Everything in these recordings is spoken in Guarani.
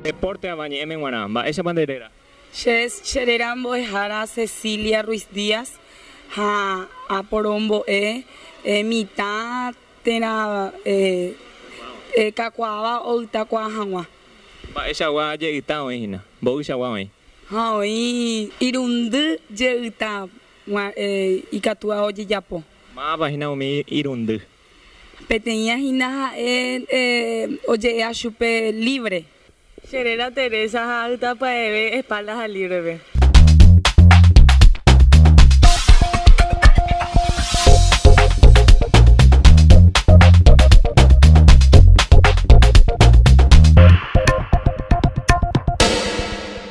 Deporte ava ñe'ẽme g̃uarã, mba'éichapa nde réra? Che, che réra mbo'ehára Cecilia Ruiz Díaz ha aporombo'e mitã térã kakuaáva ovytakuaa hag̃ua. Mba'eichagua jeyta oĩ hína, mboýchagua oĩ? Ha oĩ irundy jeyta. G̃ua ikatu ao jejapo. Mávapa hína umi irundy. Peteĩa hína ha'e oje'éa chupe libre. Che réra Teresa ha aytapya'eve espalda ha librepe.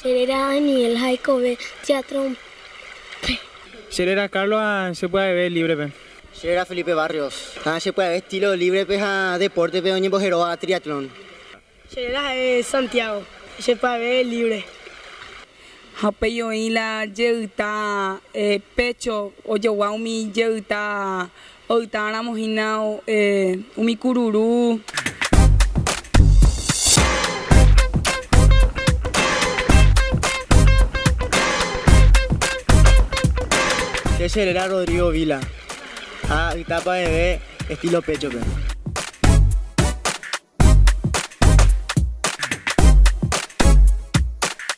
Che réra Daniel ha oikove teatrópe. Che réra Carlos ha che pya'eve líbrepe. Che réra Felipe Barrios ha che pya'eve estílo líbrepe ha depórtepe oñembojeróva triatlón. Che réra ha'e Santiago ha che pya'eve líbre. Ha upéi oĩ la jeyta pécho ojogua umi jeyta Oitãramo hína umi kururu. Che che réra Rodrigo Vila. Ha yta paveve estilo pécho pe.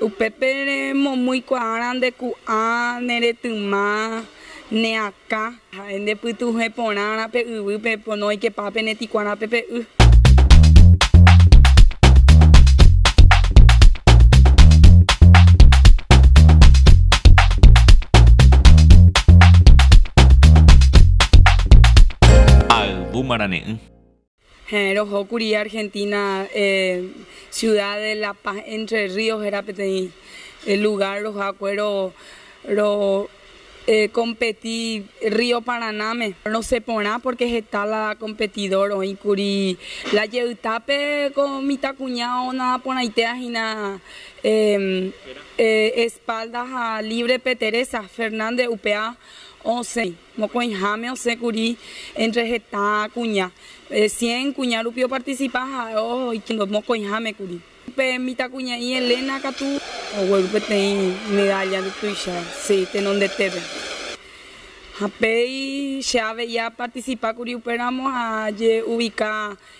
Upépe remomýi kuaára nde ku'ã, ne retyma, ne akã. Ha'e nde pytuhẽ porãra pe yvýpe, pono oikepa pe neti kuarápe pe y. Ayvu marane'ỹ. Heẽ, rohókuri Argentina ciudad de La Paz Entre Ríos héra peteĩ lugar rohakue ro ro competi Río Paranáme. Rosẽ porã porque heta la competidor oĩkuri la jeytápe ko mitãkuña ona porãitéva hína espalda ha libre pe Teresa Fernández upéva osẽ. Mokõiháme osẽ kuri entre heta kuña, cien kuña rupi oparticipa ha oikóndo mokõiháme kuri. Pe mitãkuña'i Elena katu ogueru peteĩ medalla nde tuicha si tenondetépe. Ha péi che avei aparticipa kuri upéramo ha aje ubica